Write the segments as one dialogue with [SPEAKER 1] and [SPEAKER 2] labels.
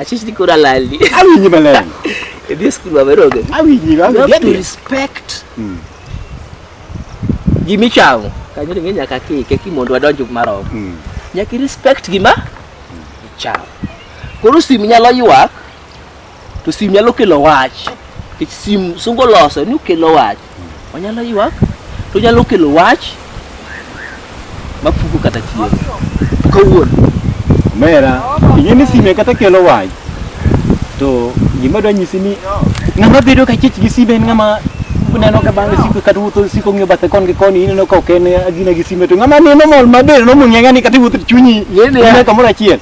[SPEAKER 1] Achich ni koro alalni. Awinji maler.
[SPEAKER 2] Idhi e skul
[SPEAKER 1] maber onge. Awinji, awinji. You have to
[SPEAKER 2] respect.
[SPEAKER 1] Mm. Gimi chamo. Kanyo ni nyaka kike ki mondo wadonj marom. Mm. Nyaka respect gima mm. ichamo. Koro sim nyalo ywak to sim nyalo kelo wach. Kech sim sungo loso ni kelo wach. Onyalo ywak to nyalo kelo wach ma puko kata chieng' kawuono. Mera,
[SPEAKER 2] ing'e ni sime kata kelo wach. To gima dwa nyisi ni ng'ama bedo ka chich gi sime en ng'ama neno ka bang' siko kata wuotho siko ng'iyo bathe kon gi koni ineno ka ok en agina gi sime to ng'ama neno mol maber no mung'e ng'ani kata iwuotho to chunyi Yeni ya. ine kamoro achiel.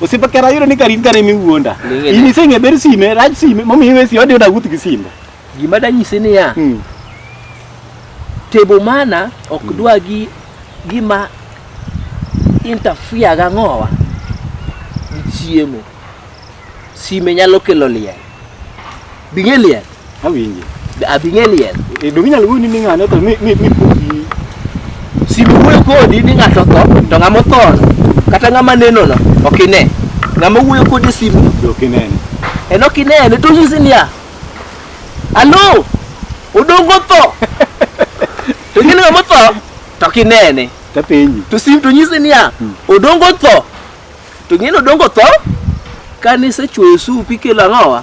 [SPEAKER 2] Osipa kera yiro ni karin kare mi wuonda. In isenge ber sime, raj sime, momi iwe si odi odaguth gi sime. Gima danyise
[SPEAKER 1] ni ya. Hmm. Tebo mana ok hmm. dwa gi gima interfere ga ngowa gi chiemo. Sime nyalo kelo liel. Bing'e liel. Awinje.
[SPEAKER 2] Abing'e liel.
[SPEAKER 1] E, donge inyalo wuoyo ni
[SPEAKER 2] ng'ane to mi mi mi puki. Si
[SPEAKER 1] wuoyo kodi ni ng'ato tho to ng'ama othono kata ng'ama nenono ok ine. Ng'ama wuoyo kodi e simu Dok inene.
[SPEAKER 2] en ok inene
[SPEAKER 1] to onyisi niya alo odongo tho to ing'e ni ng'ama otho to ok inene Ta penji. to
[SPEAKER 2] sim to nyisi niya
[SPEAKER 1] odongo tho to ing'e ni odongo tho kane isechuoyo sup ikelo ang'owa